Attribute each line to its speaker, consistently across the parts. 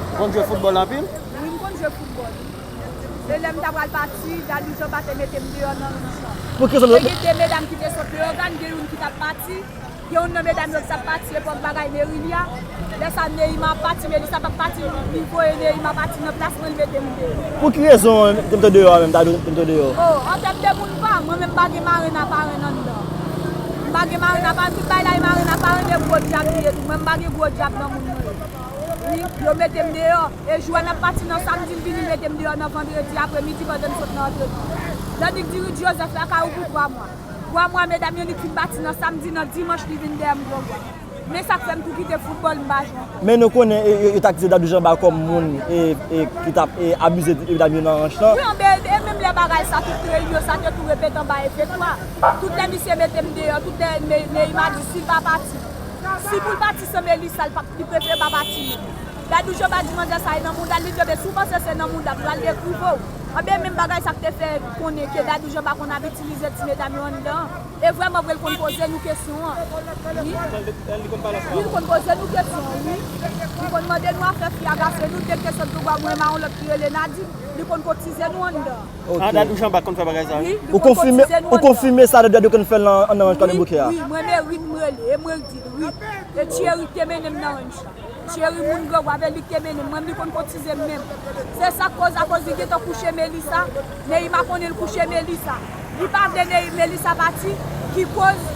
Speaker 1: Ou konn jwe foutbòl anpil? Wi, m konn jwe
Speaker 2: foutbòl. E lè m ta pral pati, Dani Jan pa te mete m deyò nan wouj lan. Te gen de
Speaker 3: medam ki te
Speaker 2: sot Leyogàn, gen youn ki t ap pati. Gen youn nan medam yo ki t ap pati epòk bagay Merili a. Lè sa a Neyima ap pati, Melisa p ap pati, li voye Neyima pati nan plas mwen, li mete m deyò. Pou ki rezon ou
Speaker 3: te mete w deyò a menm, ta dwe mete w deyò? O, an tèm de moun
Speaker 2: pa m, mwen menm m pa gen marenn a parenn anndan. M pa gen marenn a parenn, tout bay la e marenn a parenn e gwo dyab li ye tou. Mwen m pa gen gwo dyab nan moun mwen yo. Wi, yo mete m deyò. E jwè n ap pati nan samdi, m vini mete m deyò nan vandredi apremidi pandan n sot nan antrenman. Jannik di Rudy Joseph lakay ou pou twa mwa. Twa mwa medam yo li t fin pati nan samdi, nan dimanch li vin dèyè m gwo vwa. Men sa k fè m tou kite foutbòl, m pa jwe ankò. Men nou konnen yo
Speaker 3: t akize Dadou Janba kòm moun ki t ap abize medam yo nan ranch lan. Wi anbe, e menm lè bagay
Speaker 2: sa tout kreyil yo sa te tou repete anba efekto a. Tout lè misye mete m deyò, tout lè Neyima di si l pa pati. Si poul pati se Melissa li pap li prefere pa pati li Dadou jan badi manda sa e nan moudal li kenbe si ou panse se nan moudam pral gen kou pouw anben menm bagay sa k te fè konnen ke Dadou jan pa konn ap itilize ti medam yo anndan an e vrèman vre li konn poze nou kesyon an wi li konn poze nou kesyon an wi li konn mande nou afè fi a gase nou dèk kesyon dlo bwa mwen e maron lòt ki rele Nadine li konn kotize nou anndan an. Ah dadou jean back konn fè bagay
Speaker 1: sa wi. Ou konfime ou
Speaker 3: konfime sa dadou konn fè nan nan ranch kade bouke a. Wi mwen me rit m
Speaker 2: rele e mwen k dil wi e Thierry k te mennen m nan ranch la Thierry moun gran goave lik te mennen m mwen m li konn kotize m menm se sak koz akoz li gentan kouche melisa neima konnen l kouche melisa li pa vle nei melisa pati ki koz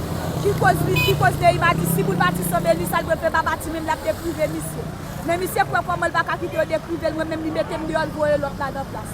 Speaker 2: ki koz li ki koz neima di si pou l pati san melisa l dwe fè pa pati menm lap dekrive misye men misye kwè koman l paka kite yo dekrive l mwen menm li mete m deyò l voye lòt la nan plas.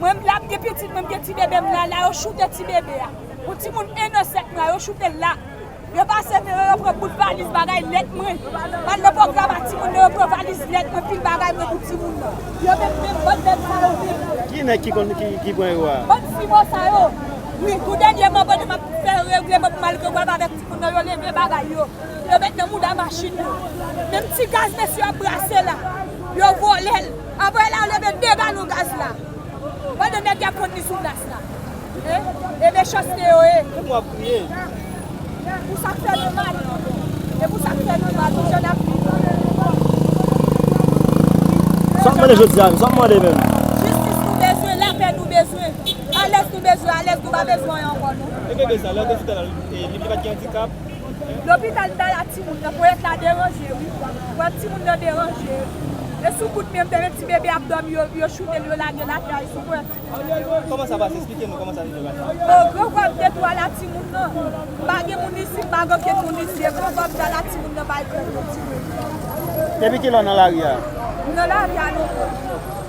Speaker 2: Mwen m la m gen pitit mwen m gen ti bebe m la la yo choute ti bebe a yon ti moun 1 an 7 mwa yo choute l la yo pase men yo yo pran bout valiz bagay lèt mwen pral nan pwogram a ti moun nan yo pran valiz lèt mwen pil bagay mwen pou ti moun nan yo met men bann nèg sa yo men Ki nèg ki konn ki
Speaker 1: pran yo a? Bann fimo sa yo
Speaker 2: wi tou dènyèman pandan map fè regleman pou m al gen wòb avèk ti moun nan yo leve bagay yo yo met nan mouda machin yo menm ti gaz mesye yo ap brase la yo vòlè l. Aprè la leve 2 galon gaz la pandan nèg yap vann li sou plas la e mechanste yo ye. Pou wap
Speaker 1: kriye.
Speaker 2: Pou sak fè nou mal. E pou sak fè nou mal pou jan nap viv
Speaker 3: la. Sa wap mande jodi a menm? Sa wap mande menm? Jistis nou bezwen,
Speaker 2: lapè nou bezwen. Alèz nou bezwen, alèz nou pa bezwen anyen ankò non. Ebebe sa lè yo te
Speaker 1: di tal li pat gen andikap. Lopital
Speaker 2: bay a timoun nan poyèt la deranje wi poyèt timoun nan deranje e sou kout menm tande ti bebe ap dòmi yo choutel yo lagel atè a e sou
Speaker 1: poyèt timoun nan deranje o gran gob de
Speaker 2: twa la timoun nan pa gen moun isi m pa gen okenn moun isi e gran gob da la timoun nan bay krèk nan timoun nan. Depi kilè w nan
Speaker 1: lari a? M nan lari a
Speaker 2: non pòl.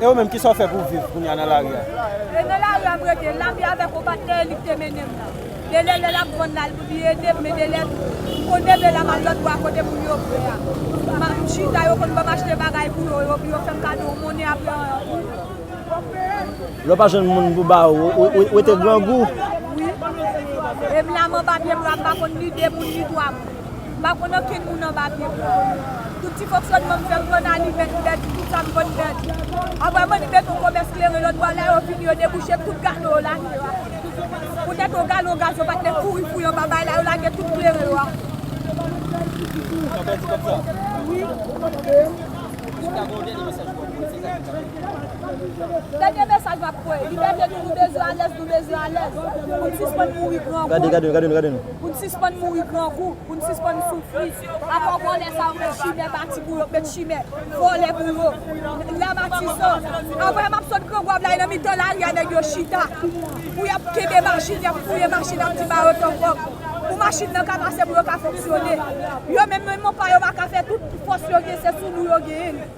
Speaker 1: E ou menm kisa ou fè pou viv kounya nan lari a? E nan lari
Speaker 2: a m rete, m lavi avèk on patnè e li k te mennen m nan. Genlè lè l ap vann l al pou li ede m men genlè m konn leve la m al lòt bò kote moun yo vre a. M chita yo konn ban m achte bagay pou yo, yo yo fè m kado on monnen aprè on anpil.
Speaker 3: Lè w pa jwenn moun pou ba ou, ou rete grangou? Wi.
Speaker 2: E m la m anba pye bra m pa konn ni de moun ni twa moun. Pa konn okenn moun anba pye m nan. Tout ti fonksyònman m fè m konn anime, m pèdi tout sa m konn pèdi. Apre m anime fon komès kleren lòt bò lè yo fini yo debouche tout gado yo lage yo atè. Poutèt yon galon gaz yo pa t lè kouri fouye anba bay la yo lage tout kleren yo atè. Dènye mesaj m ap voye, libète nou nou bezwen alèz nou bezwen alèz pou n sispann mouri grangou. Pou n
Speaker 3: sispann mouri
Speaker 2: grangou, pou n sispann soufri. Apa vòlè sa yo met chimè bati pou yo, met chimè vòlè pou yo. La Matisan, apre m ap sot Grangou ap la e nan mitan lari a nèg yo chita pou y ap kenbe machin, y ap fouye machin ap di ba yo tan kòb pou machin nan ka pase pou yo ka fonksyone. Yo menm, menm pa yo pa ka fè tout fòs yo gen se sou nou yo genyen li.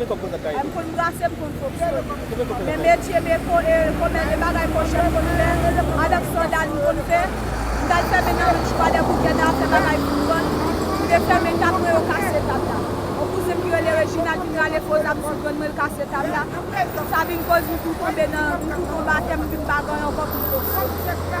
Speaker 2: M konn brase, m konn pote l. Men metye men ko e komè e bagay kochè m konn fè. Avèk sandal m konn fè. M t al fèmen nan rich pa lè bouke nan afè bagay pou m vann. M te fèmen tab mwen yo kase tab la. On kouzen m ki rele Reginald vin rale fo zam sou grann mwen l kase tab la. Sa vin koz m tou tonbe nan m tou tonbe atè m vin pa ganyen ankò pou m soti.